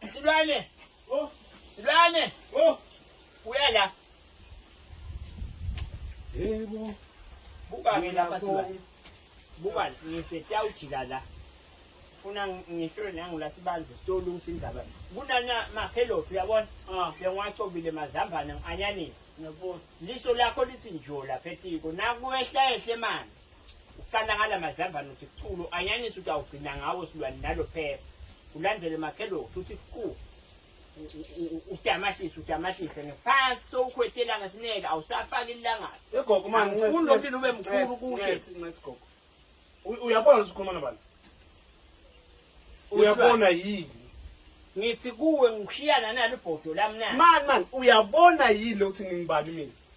Silwane. Oh, silwane. Oh, uya la. Yebo. Buka ke lapha silwane. Buka ngifeta ujika la. Funa ngihlole nangula sibanzi sitolo usindaba. Kunana maphelophi uyabona? Ah, ngiyacobile mazambane ngianyanini. Ngiyabona. Liso lakho lithi njola phetiko. Nakuwehla ehle manje. Uqalakala mazambane uthi kuchulu anyanisi ukuthi awugcina ngawo silwane nalo phela. Ulandele makhelo uthi ku udamatisi udamatise ngephansi sowukhwetela ngesineke awusafaki ilangabi. Egogo manje ngicela ulomile ube mkhulu kushe. Ngicela isigogo. Uyabona usikhuluma nabani? Uyabona yini? ngithi kuwe ngishiyana nalo ibhodo lami na mani mani uyabona yini lokuthi ngingibani mina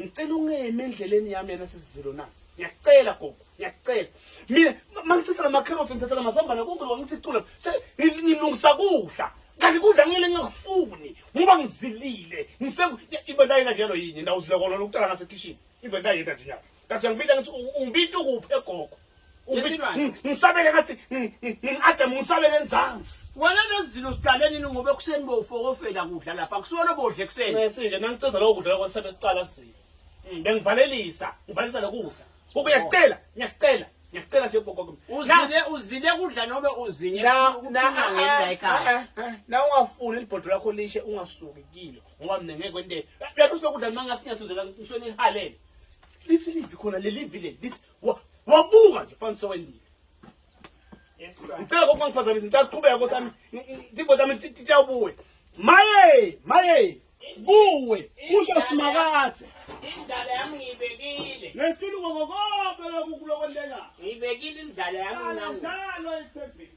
ngicela ungeme endleleni yami yana sisizilo nasi ngiyacela gogo ngiyacela mina mangithatha lama carrots ngithatha lama sambana konke lokho ngithi cula ngilungisa kudla kanti kudla ngeke ngingakufuni ngoba ngizilile ngise ibenda yena njalo yini ndawuzile kona lokutala ngase kitchen ibenda yena nje nyaka kathi ngibita ngithi ungibita ukuphi egogo ngisabele ngathi ngini-adam ngisabele enzansi wena lezilo siqale nini ngoba ekuseni bowufokofela kudla lapha kusuwona bodla ekusenisile nangicinza lowo kudla lokho sebe siqala sile mm, bengivalelisa ngivalisa lokudla ukuya oh. sicela ngiyasicela ngiyasicela nje gogo uzile uzile kudla nobe uzinye na ungafuni libhodo lakho lishe ungasuki kilo ngoba mina ngeke kwente lapho silokudla noma ngathi ngiyasuzela ngisho nihalele lithi livi khona lelivi leli lithi wabuka nje fanisa wendile ngicela kokuba ngiphazamisa ngicela kuqhubeka kosami timbo tami tiyawubuye maye maye kuwe kusho simakathe indala yami ngiyibekile ngehlula ukokokobe lokhu kulokwenteka ngiyibekile indala yami njalo ethembeni